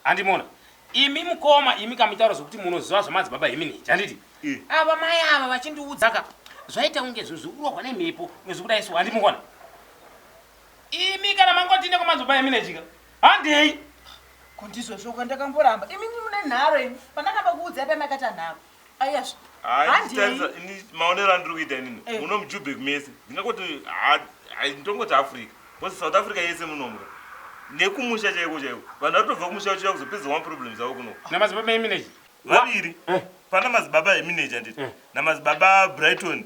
Handi mona. Imi mukoma imi kamitaura zvokuti munoziva zvamadzibaba imi niji handiti eh. ava mai ava vachindiudza ka zvaita kunge zvinhu zviri kurohwa nemhepo nezviri kuda isu handi mukona imi kana mangotinde kwamadzibaba imi nejika handei kundizvozvoka ndakamboramba imi mune nharo imi pandakamba kuudzai pamakata nharo maonero andiri kuita inini eh. muno mujubek mese ndingakoti ndongoti africa bcause south africa yese munomuka nekumusha chaiko chaiko vanhu vari tobva kumusha vachiuya kuzopedza one problem zavo kuno namadzibaba eminage vaviri eh. pana madzibaba eminage anditi eh. namadzibaba brighton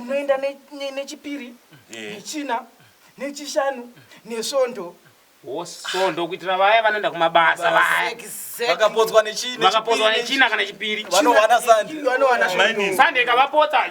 unoenda nechipiri nechina nechishanu nesvondo svondo kuitira vaya vanoenda kumabasa vayavakapodzwa nechina kana chipiri vanowana sande ikavapotsa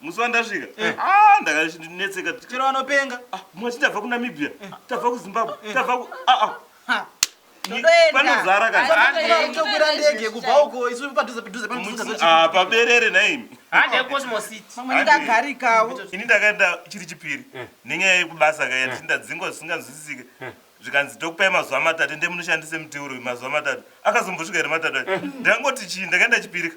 musi wandasvika eh. ah, ndakanetseka chero vanopenga ah, mwachi tabva kunamibia eh. tabva kuzimbabwe eh. tabva ku ah, panozara katokwira ndege kubva uko isu padhuze padhuze paberere naimi handekosmositmamwendagarikawo ini ndakaenda chiri chipiri nenyaya yekubasa kaya ndichi ndadzingwa zvisinganzwisisike zvikanzi tokupai mazuva matatu ndemunoshandise muteuro mazuva matatu akazombosvika here matatu acho ndakangoti chii ndakaenda chipirika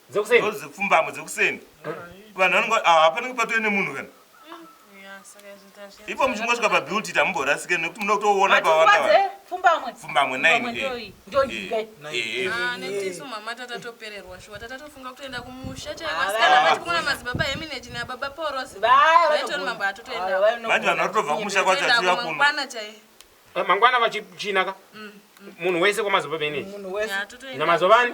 dzekuseni ndozipfumbamwe dzekuseni vanhu vanenge ah, hapanenge patove nemunhu kana ipo muchingosvika pabuilt it hamumborasike nekuti muno kutoona pavangapfumbamwe manje vanhu vatotobva kumusha kwacho achiuya kuno mangwana vachichinaka munhu wese kwamazobaba ineyi namazobani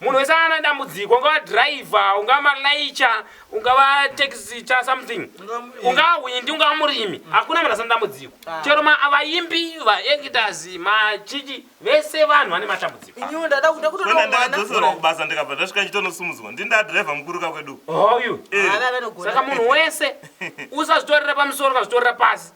Munhu wese ana dambudziko ungava driver, ungava malaicha, ungava taxi cha something. Ungava hwindi, ungava murimi. Hakuna munhu asina dambudziko. Chero ma vaimbi, va actors, ma chichi vese vanhu vane matambudziko. Inini ndada kuda kutoda Kwenda mwana. ndakadzoserwa kubasa ndikabva ndasvika ndichitonosimudzwa. Ndini ndadriver mukuru ka kwedu. Hoyu. Eh. Ava vanogona. Saka munhu wese usazvitorera pamusoro ukazvitorera pasi.